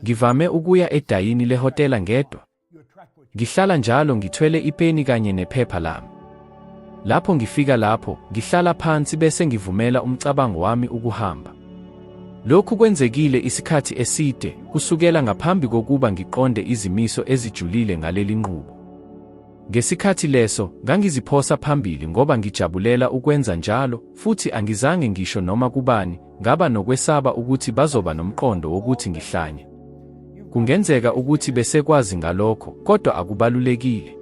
Ngivame ukuya edayini lehotela ngedwa. Ngihlala njalo ngithwele ipeni kanye nephepha lami. Lapho ngifika lapho, ngihlala phansi bese ngivumela umcabango wami ukuhamba. Lokhu kwenzekile isikhathi eside, kusukela ngaphambi kokuba ngiqonde izimiso ezijulile ngaleli nqubo. Ngesikhathi leso, ngangiziphosa phambili ngoba ngijabulela ukwenza njalo, futhi angizange ngisho noma kubani, Ngaba nokwesaba ukuthi bazoba nomqondo wokuthi ngihlanya. Kungenzeka ukuthi besekwazi ngalokho, kodwa akubalulekile.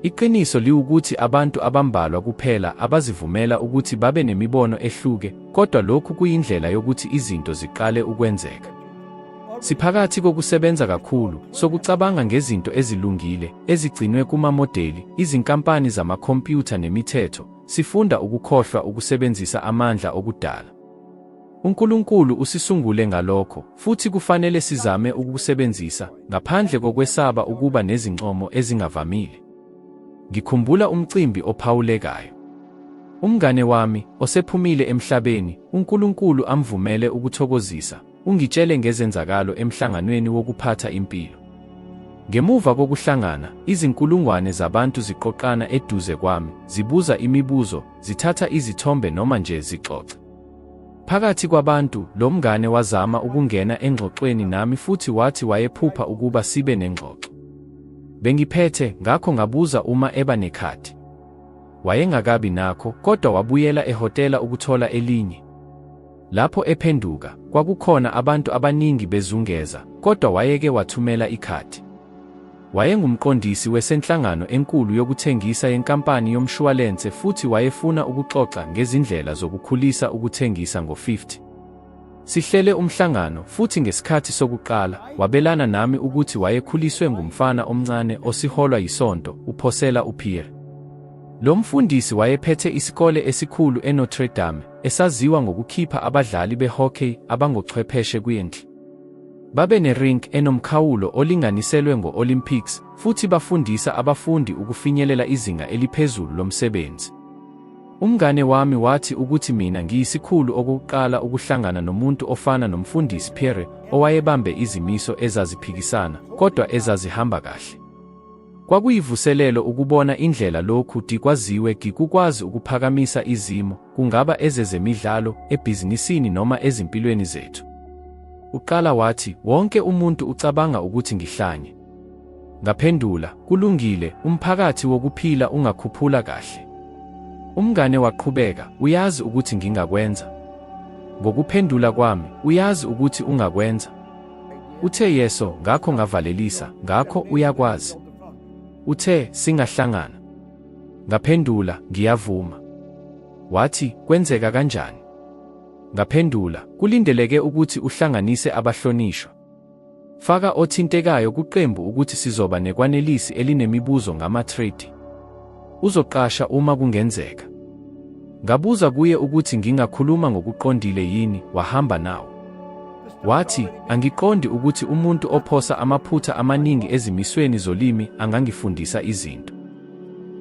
Iqiniso liwukuthi abantu abambalwa kuphela abazivumela ukuthi babe nemibono ehluke, kodwa lokhu kuyindlela yokuthi izinto ziqale ukwenzeka. Siphakathi kokusebenza kakhulu sokucabanga ngezinto ezilungile ezigcinwe kumamodeli, izinkampani zamakhompyutha nemithetho, Sifunda ukukhohlwa ukusebenzisa amandla okudala. UNkulunkulu usisungule ngalokho, futhi kufanele sizame ukukusebenzisa ngaphandle kokwesaba ukuba nezincomo ezingavamile. Ngikhumbula umcimbi ophawulekayo. Umngane wami, osephumile emhlabeni, uNkulunkulu amvumele ukuthokozisa Ungitshele ngezenzakalo emhlanganweni wokuphatha impilo. Ngemuva kokuhlangana, izinkulungwane zabantu ziqoqana eduze kwami, zibuza imibuzo, zithatha izithombe noma nje zixoxa. Phakathi kwabantu, lo mngane wazama ukungena engxoxweni nami futhi wathi wayephupha ukuba sibe nengxoxo. Bengiphethe, ngakho ngabuza uma eba nekhadi. Wayengakabi nakho, kodwa wabuyela ehhotela ukuthola elinye. Lapho ephenduka, kwakukhona abantu abaningi bezungeza, kodwa wayeke wathumela ikhadi. Wayengumqondisi wesenhlangano enkulu yokuthengisa yenkampani yomshuwalense futhi wayefuna ukuxoxa ngezindlela zokukhulisa ukuthengisa ngo-50. Sihlele umhlangano futhi ngesikhathi sokuqala wabelana nami ukuthi wayekhuliswe ngumfana omncane osiholwa yisonto, uphosela uPierre. Lo mfundisi wayephethe isikole esikhulu eNotre Dame, esaziwa ngokukhipha abadlali behockey abangochwepheshe kwindle. Babe ne-rink enomkhawulo olinganiselwe ngo-Olympics futhi bafundisa abafundi ukufinyelela izinga eliphezulu lomsebenzi. Umngane wami wathi ukuthi mina ngiyisikhulu okokuqala ukuhlangana nomuntu ofana noMfundisi Pierre owayebambe izimiso ezaziphikisana kodwa ezazihamba kahle. Kwakuyivuselelo ukubona indlela lokhu di kwaziwe gi kukwazi ukuphakamisa izimo, kungaba ezezemidlalo, ebhizinisini noma ezimpilweni zethu. Uqala wathi, wonke umuntu ucabanga ukuthi ngihlanye. Ngaphendula, kulungile, umphakathi wokuphila ungakhuphula kahle. Umngane waqhubeka, uyazi ukuthi ngingakwenza. Ngokuphendula kwami, uyazi ukuthi ungakwenza. Uthe yeso, ngakho ngavalelisa, ngakho uyakwazi. Uthe singahlangana. Ngaphendula, ngiyavuma. Wathi, kwenzeka kanjani? Ngaphendula, kulindeleke ukuthi uhlanganise abahlonishwa. Faka othintekayo kuqembu ukuthi sizoba nekwanelisi elinemibuzo ngama-trade. Uzoqasha uma kungenzeka. Ngabuza kuye ukuthi ngingakhuluma ngokuqondile yini, wahamba nawo. Wathi, angiqondi ukuthi umuntu ophosa amaphutha amaningi ezimisweni zolimi angangifundisa izinto.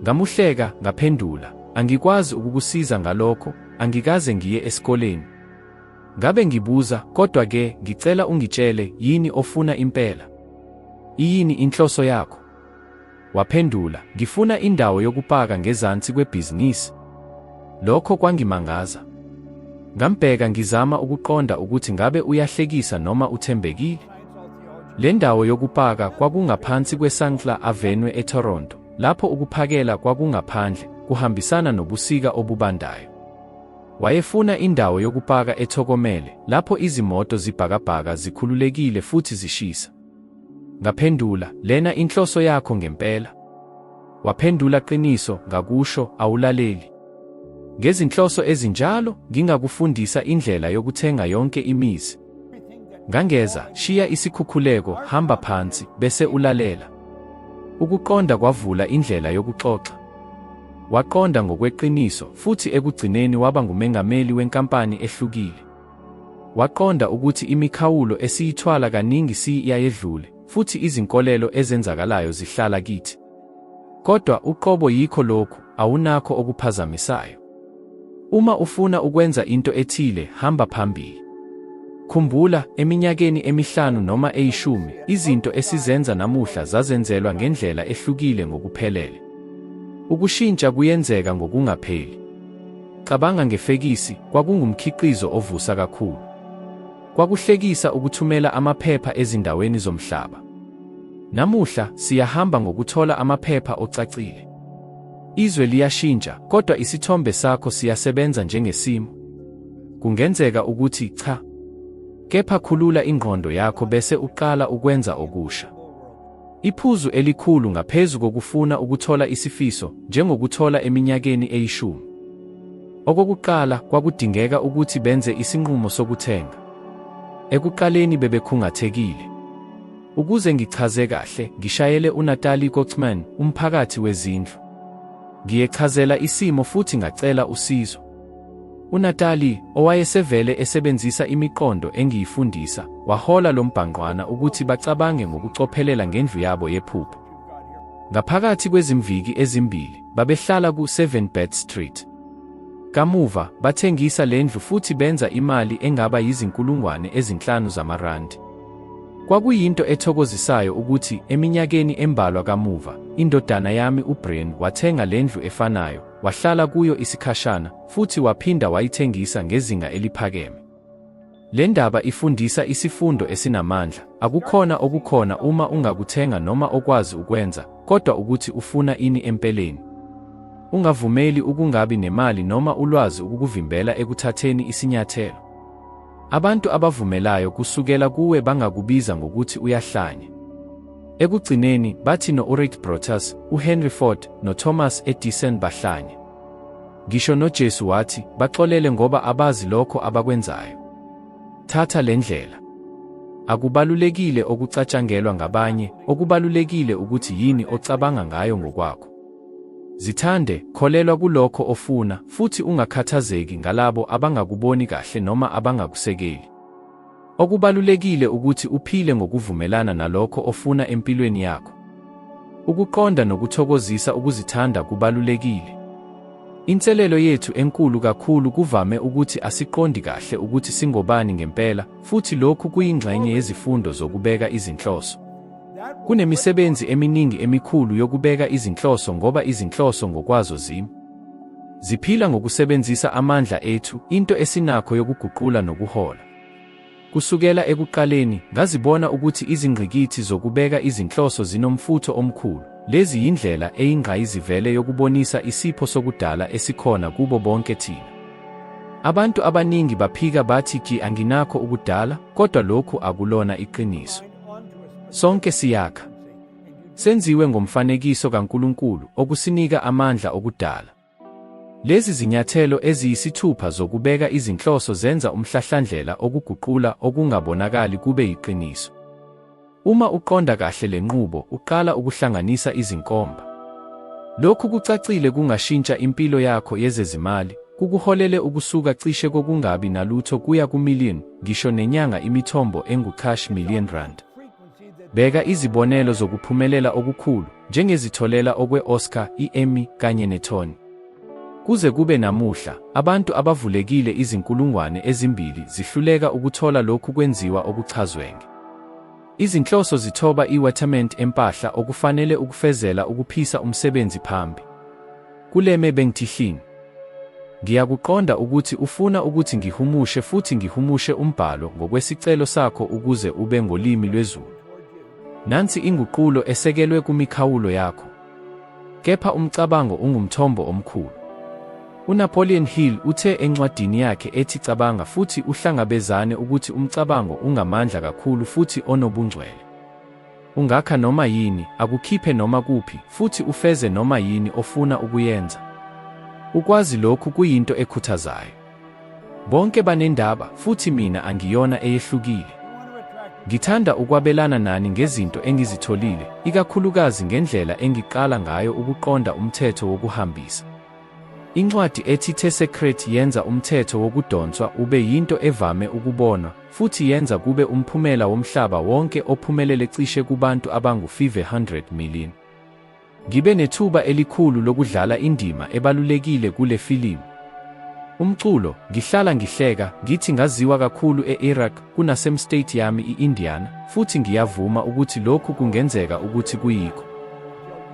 Ngamuhleka, ngaphendula, angikwazi ukukusiza ngalokho, angikaze ngiye esikoleni. Ngabe ngibuza, kodwa-ke ngicela ungitshele yini ofuna impela? Iyini inhloso yakho? Waphendula, Ngifuna indawo yokupaka ngezansi kwebhizinisi. Lokho kwangimangaza. Ngambheka ngizama ukuqonda ukuthi ngabe uyahlekisa noma uthembekile. Le ndawo yokupaka kwakungaphansi kweSankla Avenue eToronto, lapho ukuphakela kwakungaphandle, kuhambisana nobusika obubandayo. Wayefuna indawo yokupaka ethokomele, lapho izimoto zibhakabhaka zikhululekile futhi zishisa. Ngaphendula, Lena inhloso yakho ngempela? Waphendula, Qiniso, ngakusho, awulaleli. Ngezinhloso ezinjalo, ngingakufundisa indlela yokuthenga yonke imizi. Ngangeza, shiya isikhukhuleko, hamba phansi, bese ulalela. Ukuqonda kwavula indlela yokuxoxa. Waqonda ngokweqiniso, futhi ekugcineni waba ngumengameli wenkampani ehlukile. Waqonda ukuthi imikhawulo esiyithwala kaningi siyayedlule, futhi izinkolelo ezenzakalayo zihlala kithi. Kodwa uqobo yikho lokhu, awunakho okuphazamisayo. Uma ufuna ukwenza into ethile, hamba phambili. Khumbula, eminyakeni emihlanu noma eyishumi, izinto esizenza namuhla zazenzelwa ngendlela ehlukile ngokuphelele. Ukushintsha kuyenzeka ngokungapheli. Cabanga ngefekisi, kwakungumkhiqizo ovusa kakhulu. Kwakuhlekisa ukuthumela amaphepha ezindaweni zomhlaba. Namuhla, siyahamba ngokuthola amaphepha ocacile. Izwe liyashintsha, kodwa isithombe sakho siyasebenza njengesimo. Kungenzeka ukuthi cha. Kepha khulula ingqondo yakho bese uqala ukwenza okusha. Iphuzu elikhulu ngaphezu kokufuna ukuthola isifiso, njengokuthola eminyakeni eyishumi. Okokuqala, kwakudingeka ukuthi benze isinqumo sokuthenga. Ekuqaleni bebekhungathekile. Ukuze ngichaze kahle, ngishayele uNatali Kochman, umphakathi wezindlu. Ngiyechazela isimo futhi ngacela usizo. UNatali, owayesevele esebenzisa imiqondo engiyifundisa, wahola lo mbhangqwana ukuthi bacabange ngokucophelela ngendlu yabo yephupho. Ngaphakathi kwezimviki ezimbili, babehlala ku-7 Bed Street. Kamuva, bathengisa le ndlu futhi benza imali engaba yizinkulungwane ezinhlanu zamarandi. Kwakuyinto ethokozisayo ukuthi eminyakeni embalwa kamuva, indodana yami uBrian wathenga le ndlu efanayo, wahlala kuyo isikhashana, futhi waphinda wayithengisa ngezinga eliphakeme. Le ndaba ifundisa isifundo esinamandla, akukhona okukhona uma ungakuthenga noma okwazi ukwenza, kodwa ukuthi ufuna ini empeleni. Ungavumeli ukungabi nemali noma ulwazi ukukuvimbela ekuthatheni isinyathelo. Abantu abavumelayo kusukela kuwe bangakubiza ngokuthi uyahlanya. Ekugcineni, bathi no-Orit Brotas, uHenry Ford, noThomas Edison bahlanya. Ngisho noJesu wathi, Baxolele ngoba abazi lokho abakwenzayo. Thatha le ndlela. Akubalulekile okucatshangelwa ngabanye, okubalulekile ukuthi yini ocabanga ngayo ngokwakho. Zithande, kholelwa kulokho ofuna, futhi ungakhathazeki ngalabo abangakuboni kahle noma abangakusekeli. Okubalulekile ukuthi uphile ngokuvumelana nalokho ofuna empilweni yakho. Ukuqonda nokuthokozisa ukuzithanda kubalulekile. Inselelo yethu enkulu kakhulu kuvame ukuthi asiqondi kahle ukuthi singobani ngempela, futhi lokhu kuyingxenye yezifundo zokubeka izinhloso. Kunemisebenzi eminingi emikhulu yokubeka izinhloso ngoba izinhloso ngokwazo zimi. Ziphila ngokusebenzisa amandla ethu, into esinakho yokuguqula nokuhola. Kusukela ekuqaleni, ngazibona ukuthi izingqikithi zokubeka izinhloso zinomfutho omkhulu. Lezi yindlela eyingqayizivele yokubonisa isipho sokudala esikhona kubo bonke thina. Abantu abaningi baphika bathi, Ki anginakho ukudala, kodwa lokhu akulona iqiniso. Sonke siyakha. Senziwe ngomfanekiso kaNkulunkulu okusinika amandla okudala. Lezi zinyathelo eziyisithupha zokubeka izinhloso zenza umhlahlandlela okuguqula okungabonakali kube yiqiniso. Uma uqonda kahle le nqubo, uqala ukuhlanganisa izinkomba. Lokhu kucacile kungashintsha impilo yakho yezezimali, kukuholele ukusuka cishe kokungabi nalutho kuya kumillion ngisho nenyanga imithombo engu-cash million rand. Bheka izibonelo zokuphumelela okukhulu, njengezitholela okwe-Oscar, i-Emmy kanye ne-Tony. Kuze kube namuhla, abantu abavulekile izinkulungwane ezimbili zihluleka ukuthola lokhu kwenziwa okuchazwenge. Izinhloso zithoba iwetament empahla okufanele ukufezela ukuphisa umsebenzi phambi. Kuleme bengithihlini. Ngiyakuqonda ukuthi ufuna ukuthi ngihumushe futhi ngihumushe umbhalo ngokwesicelo sakho ukuze ube ngolimi lwezulu. Nansi inguqulo esekelwe kumikhawulo yakho. Kepha umcabango ungumthombo omkhulu. UNapoleon Hill uthe encwadini yakhe ethi Cabanga futhi uhlangabezane ukuthi umcabango ungamandla kakhulu futhi onobungcwele. Ungakha noma yini, akukhiphe noma kuphi, futhi ufeze noma yini ofuna ukuyenza. Ukwazi lokhu kuyinto ekhuthazayo. Bonke banendaba, futhi mina angiyona eyehlukile. Ngithanda ukwabelana nani ngezinto engizitholile, ikakhulukazi ngendlela engiqala ngayo ukuqonda umthetho wokuhambisa. Incwadi ethi The Secret yenza umthetho wokudonswa ube yinto evame ukubonwa, futhi yenza kube umphumela womhlaba wonke ophumelele cishe kubantu abangu-500 million. Ngibe nethuba elikhulu lokudlala indima ebalulekile kule filimu. Umculo, ngihlala ngihleka, ngithi ngaziwa kakhulu e-Iraq kunasemstate yami i-Indiana, futhi ngiyavuma ukuthi lokhu kungenzeka ukuthi kuyikho.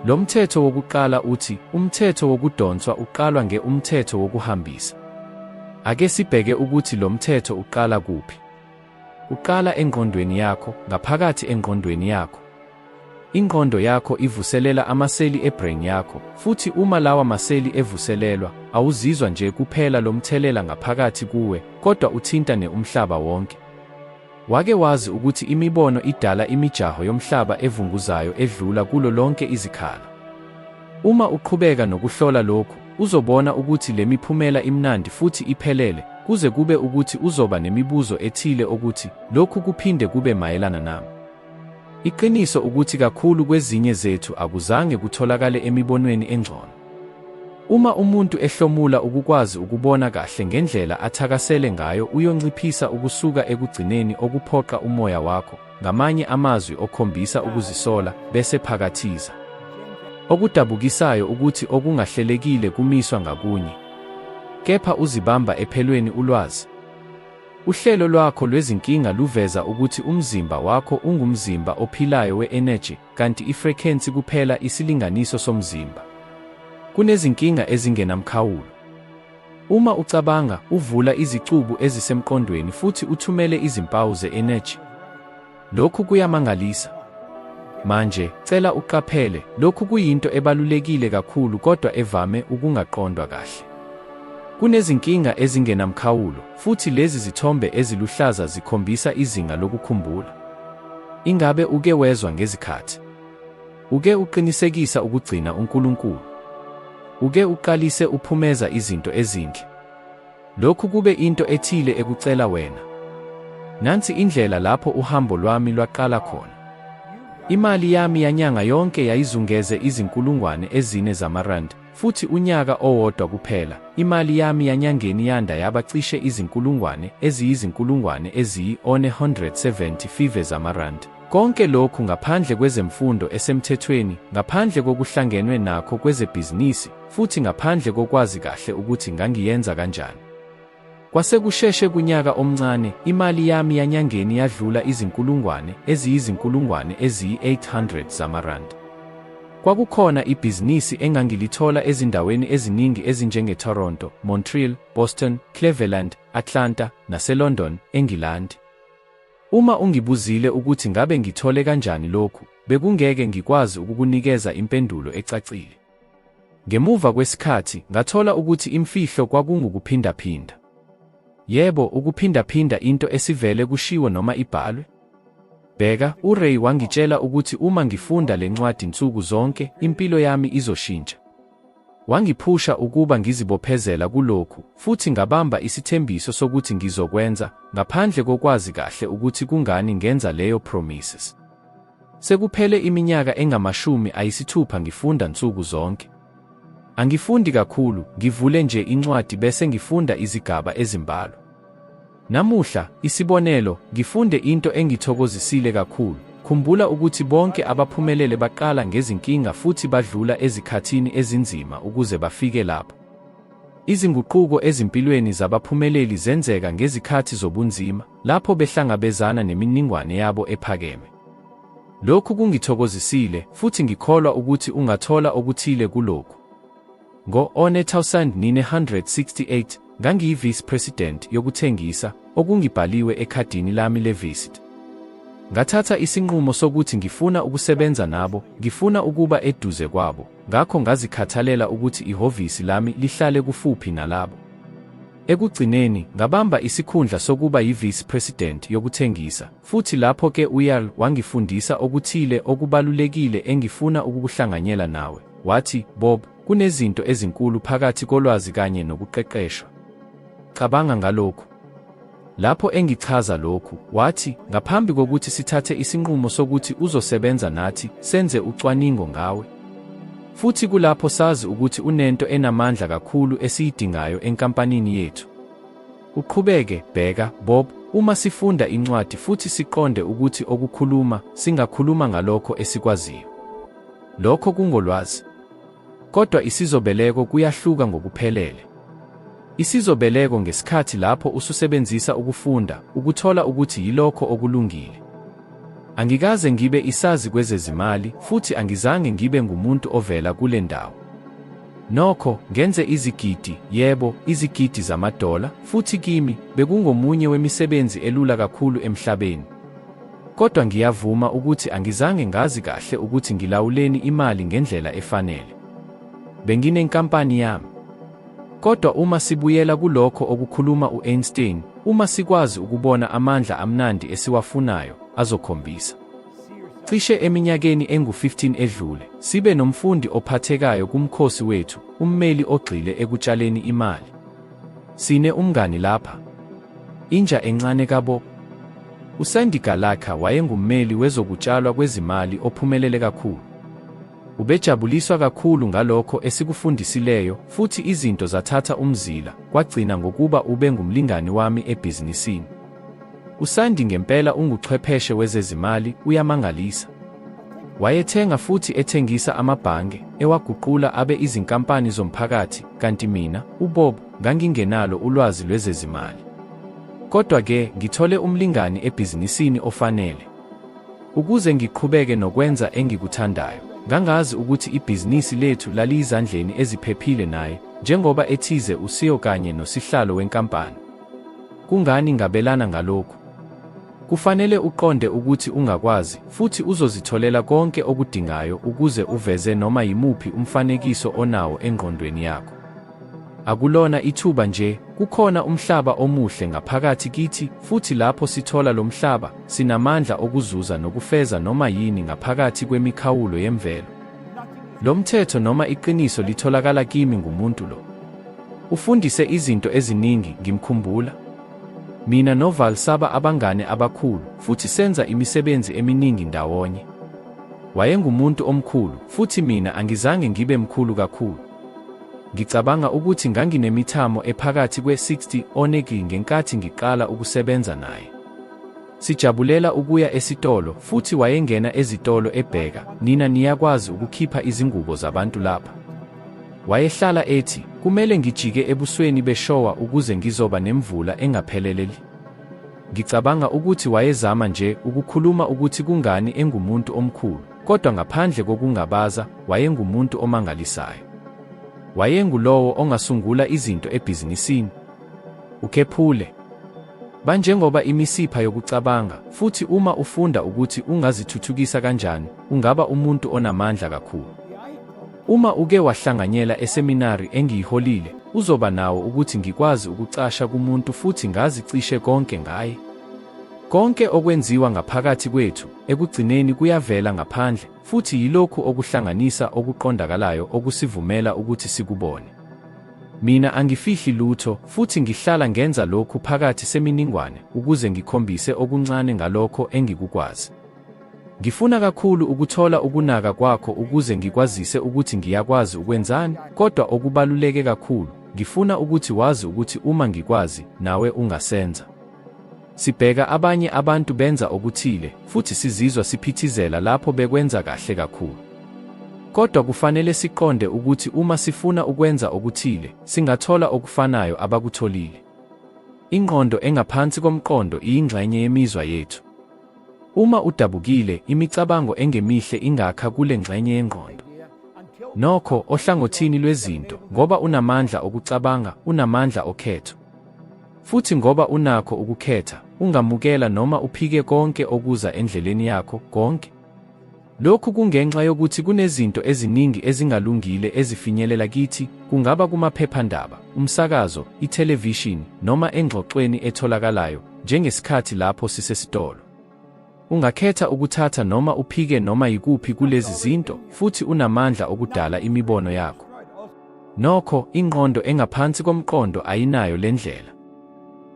Lo mthetho wokuqala uthi, umthetho wokudonswa uqalwa nge umthetho wokuhambisa. Ake sibheke ukuthi lo mthetho uqala kuphi. Uqala engqondweni yakho, ngaphakathi engqondweni yakho. Ingqondo yakho ivuselela amaseli ebrain yakho, futhi uma lawa maseli evuselelwa, awuzizwa nje kuphela lo mthelela ngaphakathi kuwe, kodwa uthinta ne umhlaba wonke. Wake wazi ukuthi imibono idala imijaho yomhlaba evunguzayo edlula kulo lonke izikhala? Uma uqhubeka nokuhlola lokhu, uzobona ukuthi le miphumela imnandi futhi iphelele, kuze kube ukuthi uzoba nemibuzo ethile okuthi, Lokhu kuphinde kube mayelana nami? Iqiniso ukuthi kakhulu kwezinye zethu akuzange kutholakale emibonweni engcono. Uma umuntu ehlomula ukukwazi ukubona kahle ngendlela athakasele ngayo uyonciphisa ukusuka ekugcineni okuphoqa umoya wakho ngamanye amazwi okhombisa ukuzisola, bese phakathiza. Okudabukisayo ukuthi okungahlelekile kumiswa ngakunye. Kepha uzibamba ephelweni ulwazi. Uhlelo lwakho lwezinkinga luveza ukuthi umzimba wakho ungumzimba ophilayo we-energy, kanti ifrekhensi kuphela isilinganiso somzimba. Kunezinkinga ezingenamkhawulo. Uma ucabanga, uvula izicubu ezisemqondweni futhi uthumele izimpawu ze-energy. Lokhu kuyamangalisa. Manje, cela uqaphele, lokhu kuyinto ebalulekile kakhulu kodwa evame ukungaqondwa kahle. Kunezinkinga ezingenamkhawulo, futhi lezi zithombe eziluhlaza zikhombisa izinga lokukhumbula. Ingabe uke wezwa ngezikhathi? Uke uqinisekisa ukugcina uNkulunkulu. Uke uqalise uphumeza izinto ezinhle. Lokhu kube into ethile ekucela wena. Nansi indlela lapho uhambo lwami lwaqala khona. Imali yami yanyanga yonke yayizungeze izinkulungwane ezine zamarandi. Futhi unyaka owodwa kuphela, imali yami yanyangeni yanda yaba cishe izinkulungwane eziyizinkulungwane eziyi-175 zamarandi. Konke lokhu ngaphandle kwezemfundo esemthethweni, ngaphandle kokuhlangenwe nakho kwezebhizinisi, futhi ngaphandle kokwazi kahle ukuthi ngangiyenza kanjani. Kwase kusheshe kunyaka omncane, imali yami yanyangeni yadlula izinkulungwane eziyizinkulungwane eziyi-800 zamarandi. Kwakukhona ibhizinisi engangilithola ezindaweni eziningi ezinjengeToronto, Montreal, Boston, Cleveland, Atlanta, naseLondon, eNgilandi. Uma ungibuzile ukuthi ngabe ngithole kanjani lokhu, bekungeke ngikwazi ukukunikeza impendulo ecacile. Ngemuva kwesikhathi, ngathola ukuthi imfihlo kwakungukuphindaphinda. Yebo, ukuphindaphinda into esivele kushiwo noma ibhalwe. Bheka, uRay wangitshela ukuthi uma ngifunda le ncwadi nsuku zonke, impilo yami izoshintsha. Wangiphusha ukuba ngizibophezela kulokhu, futhi ngabamba isithembiso sokuthi ngizokwenza, ngaphandle kokwazi kahle ukuthi kungani ngenza leyo promises. Sekuphele iminyaka engamashumi ayisithupha ngifunda nsuku zonke. Angifundi kakhulu, ngivule nje incwadi bese ngifunda izigaba ezimbalwa. Namuhla, isibonelo, ngifunde into engithokozisile kakhulu. Khumbula ukuthi bonke abaphumelele baqala ngezinkinga futhi badlula ezikhathini ezinzima ukuze bafike lapho. Izinguquko ezimpilweni zabaphumeleli zenzeka ngezikhathi zobunzima. lapho behlangabezana neminingwane yabo ephakeme. Lokhu kungithokozisile, futhi ngikholwa ukuthi ungathola okuthile kulokhu. Ngo-1968, ngangiyi-vice president yokuthengisa, okungibhaliwe ekhadini lami le-visit. Ngathatha isinqumo sokuthi ngifuna ukusebenza nabo, ngifuna ukuba eduze kwabo, ngakho ngazikhathalela ukuthi ihhovisi lami lihlale kufuphi nalabo. Ekugcineni, ngabamba isikhundla sokuba yi-vice president yokuthengisa, futhi lapho ke uYarl wangifundisa okuthile okubalulekile engifuna ukukuhlanganyela nawe. Wathi, Bob, kunezinto ezinkulu phakathi kolwazi kanye nokuqeqeshwa. Cabanga ngalokhu. Lapho engichaza lokhu, wathi, Ngaphambi kokuthi sithathe isinqumo sokuthi uzosebenza nathi, senze ucwaningo ngawe. Futhi kulapho sazi ukuthi unento enamandla kakhulu esiyidingayo enkampanini yethu. Uqhubeke, bheka, Bob, uma sifunda incwadi futhi siqonde ukuthi okukhuluma, singakhuluma ngalokho esikwaziyo. Lokho kungolwazi. Kodwa isizobeleko kuyahluka ngokuphelele. Isizobeleko ngesikhathi lapho ususebenzisa ukufunda ukuthola ukuthi yilokho okulungile. Angikaze ngibe isazi kwezezimali futhi angizange ngibe ngumuntu ovela kule ndawo. Nokho, ngenze izigidi, yebo, izigidi zamadola, futhi kimi, bekungomunye wemisebenzi elula kakhulu emhlabeni. Kodwa ngiyavuma ukuthi angizange ngazi kahle ukuthi ngilawuleni imali ngendlela efanele. Benginenkampani yami. Kodwa uma sibuyela kulokho okukhuluma u-Einstein, uma sikwazi ukubona amandla amnandi esiwafunayo, azokhombisa. Cishe eminyakeni engu-15 edlule, sibe nomfundi ophathekayo kumkhosi wethu, ummeli ogxile ekutshaleni imali. Sine umngani lapha. Inja encane kabo. USandy Galakha wayengummeli wezokutshalwa kwezimali ophumelele kakhulu. Ubejabuliswa kakhulu ngalokho esikufundisileyo, futhi izinto zathatha umzila, kwagcina ngokuba ube ngumlingani wami ebhizinisini. USandi ngempela unguchwepheshe wezezimali, uyamangalisa. Wayethenga futhi ethengisa amabhange, ewaguqula abe izinkampani zomphakathi, kanti mina, uBob, ngangingenalo ulwazi lwezezimali. Kodwa-ke, ngithole umlingani ebhizinisini ofanele. Ukuze ngiqhubeke nokwenza engikuthandayo, ngangazi ukuthi ibhizinisi lethu laliyizandleni eziphephile naye, njengoba ethize uSeo kanye nosihlalo wenkampani. Kungani ngabelana ngalokhu? Kufanele uqonde ukuthi ungakwazi futhi uzozitholela konke okudingayo ukuze uveze noma yimuphi umfanekiso onawo engqondweni yakho. Akulona ithuba nje, kukhona umhlaba omuhle ngaphakathi kithi, futhi lapho sithola lo mhlaba, sinamandla okuzuza nokufeza noma yini ngaphakathi kwemikhawulo yemvelo. Lo mthetho noma iqiniso litholakala kimi ngumuntu lo. Ufundise izinto eziningi, ngimkhumbula. Mina noVal saba abangane abakhulu futhi senza imisebenzi eminingi ndawonye. Wayengumuntu omkhulu, futhi mina angizange ngibe mkhulu kakhulu. Ngicabanga ukuthi nganginemithamo ephakathi kwe-60 oneki ngenkathi ngiqala ukusebenza naye. Sijabulela ukuya esitolo, futhi wayengena ezitolo ebheka, Nina niyakwazi ukukhipha izingubo zabantu lapha? Wayehlala ethi, Kumele ngijike ebusweni beshowa ukuze ngizoba nemvula engapheleleli. Ngicabanga ukuthi wayezama nje ukukhuluma ukuthi kungani engumuntu omkhulu, kodwa ngaphandle kokungabaza, wayengumuntu omangalisayo. Wayengulowo ongasungula izinto ebhizinisini. Ukhephule. Banjengoba imisipha yokucabanga, futhi uma ufunda ukuthi ungazithuthukisa kanjani, ungaba umuntu onamandla kakhulu. Uma uke wahlanganyela eseminari engiyiholile, uzoba nawo ukuthi ngikwazi ukucasha kumuntu futhi ngazi cishe konke ngaye. Konke okwenziwa ngaphakathi kwethu ekugcineni kuyavela ngaphandle, futhi yilokhu okuhlanganisa okuqondakalayo okusivumela ukuthi sikubone. Mina angifihli lutho, futhi ngihlala ngenza lokhu phakathi seminingwane ukuze ngikhombise okuncane ngalokho engikukwazi. Ngifuna kakhulu ukuthola ukunaka kwakho ukuze ngikwazise ukuthi ngiyakwazi ukwenzani, kodwa okubaluleke kakhulu, ngifuna ukuthi wazi ukuthi uma ngikwazi, nawe ungasenza. Sibheka abanye abantu benza okuthile futhi sizizwa siphithizela lapho bekwenza kahle kakhulu. Kodwa kufanele siqonde ukuthi uma sifuna ukwenza okuthile, singathola okufanayo abakutholile. Ingqondo engaphansi komqondo iyingxenye yemizwa yethu. Uma udabukile, imicabango engemihle ingakha kule ngxenye yengqondo. Nokho, ohlangothini lwezinto, ngoba unamandla okucabanga, unamandla okhetho. Futhi ngoba unakho ukukhetha, ungamukela noma uphike konke okuza endleleni yakho, konke. Lokhu kungenxa yokuthi kunezinto eziningi ezingalungile ezifinyelela kithi, kungaba kumaphephandaba, umsakazo, ithelevishini, noma engxoxweni etholakalayo, njengesikhathi lapho sisesitolo. Ungakhetha ukuthatha noma uphike noma yikuphi kulezi zinto, futhi unamandla okudala imibono yakho. Nokho, ingqondo engaphansi komqondo ayinayo le ndlela.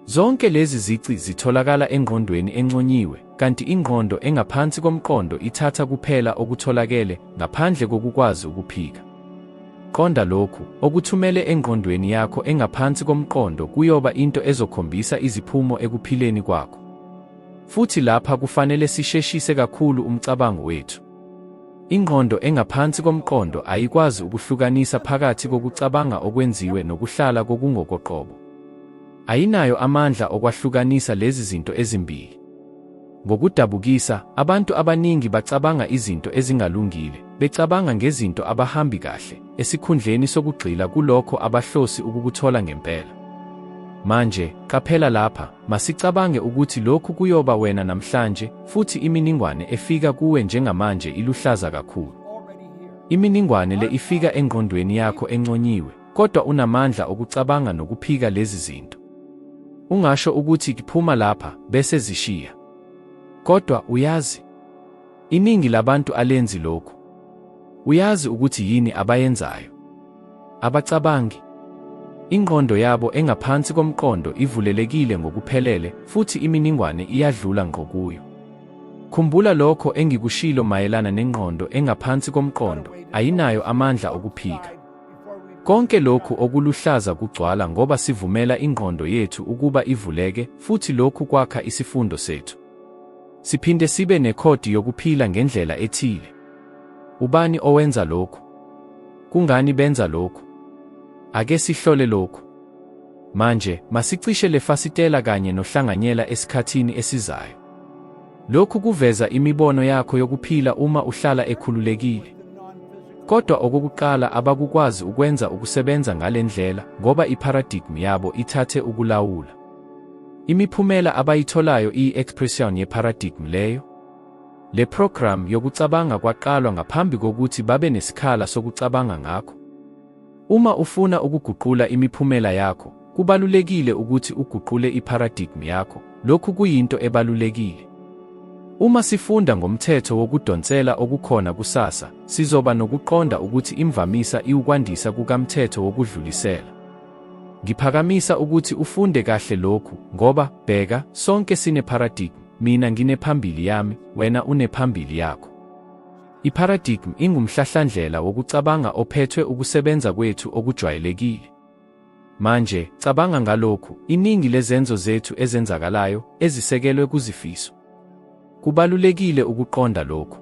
Zonke lezi zici zitholakala engqondweni enconyiwe, kanti ingqondo engaphansi komqondo ithatha kuphela okutholakele ngaphandle kokukwazi ukuphika. Qonda lokhu, okuthumele engqondweni yakho engaphansi komqondo kuyoba into ezokhombisa iziphumo ekuphileni kwakho. Futhi lapha kufanele sisheshise kakhulu umcabango wethu. Ingqondo engaphansi komqondo ayikwazi ukuhlukanisa phakathi kokucabanga okwenziwe nokuhlala kokungokoqobo. Ayinayo amandla okwahlukanisa lezi zinto ezimbili. Ngokudabukisa, abantu abaningi bacabanga izinto ezingalungile, becabanga ngezinto abahambi kahle, esikhundleni sokugxila kulokho abahlosi ukukuthola ngempela. Manje, qaphela lapha. Masicabange ukuthi lokhu kuyoba wena namhlanje, futhi iminingwane efika kuwe njengamanje iluhlaza kakhulu. Iminingwane le ifika engqondweni yakho enconyiwe, kodwa unamandla okucabanga nokuphika lezi zinto. Ungasho ukuthi kuphuma lapha, bese zishiya. Kodwa uyazi. Iningi labantu alenzi lokhu. Uyazi ukuthi yini abayenzayo? Abacabangi. Ingqondo yabo engaphansi komqondo ivulelekile ngokuphelele futhi iminingwane iyadlula ngqo kuyo. Khumbula lokho engikushilo mayelana nengqondo engaphansi komqondo, ayinayo amandla okuphika. Konke lokhu okuluhlaza kugcwala ngoba sivumela ingqondo yethu ukuba ivuleke futhi lokhu kwakha isifundo sethu. Siphinde sibe nekhodi yokuphila ngendlela ethile. Ubani owenza lokhu? Kungani benza lokhu? Ake sihlole lokhu. Manje, masicishe le fasitela kanye nohlanganyela esikhathini esizayo. Lokhu kuveza imibono yakho yokuphila uma uhlala ekhululekile. Kodwa okokuqala abakukwazi ukwenza ukusebenza ngale ndlela ngoba iparadigm yabo ithathe ukulawula. Imiphumela abayitholayo iyi-expression ye-paradigm leyo. Le program yokucabanga kwaqalwa ngaphambi kokuthi babe nesikhala sokucabanga ngakho. Uma ufuna ukuguqula imiphumela yakho, kubalulekile ukuthi uguqule i-paradigm yakho. Lokhu kuyinto ebalulekile. Uma sifunda ngomthetho wokudonsela okukhona kusasa, sizoba nokuqonda ukuthi imvamisa iwukwandisa kukamthetho wokudlulisela. Ngiphakamisa ukuthi ufunde kahle lokhu, ngoba, bheka, sonke sinepharadigm, mina nginephambili yami, wena unephambili yakho. Ipharadigm ingumhlahlandlela wokucabanga ophethwe ukusebenza kwethu okujwayelekile. Manje, cabanga ngalokhu, iningi lezenzo zethu ezenzakalayo, ezisekelwe kuzifiso. Kubalulekile ukuqonda lokhu.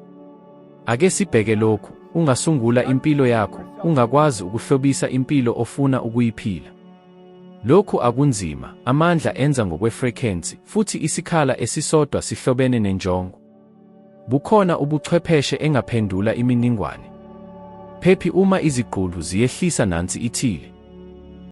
Ake sibheke lokhu, ungasungula impilo yakho, ungakwazi ukuhlobisa impilo ofuna ukuyiphila. Lokhu akunzima, amandla enza ngokwefrequency, futhi isikhala esisodwa sihlobene nenjongo. Bukhona ubuchwepheshe engaphendula iminingwane. Phephi uma izigqulu ziyehlisa nansi ithile.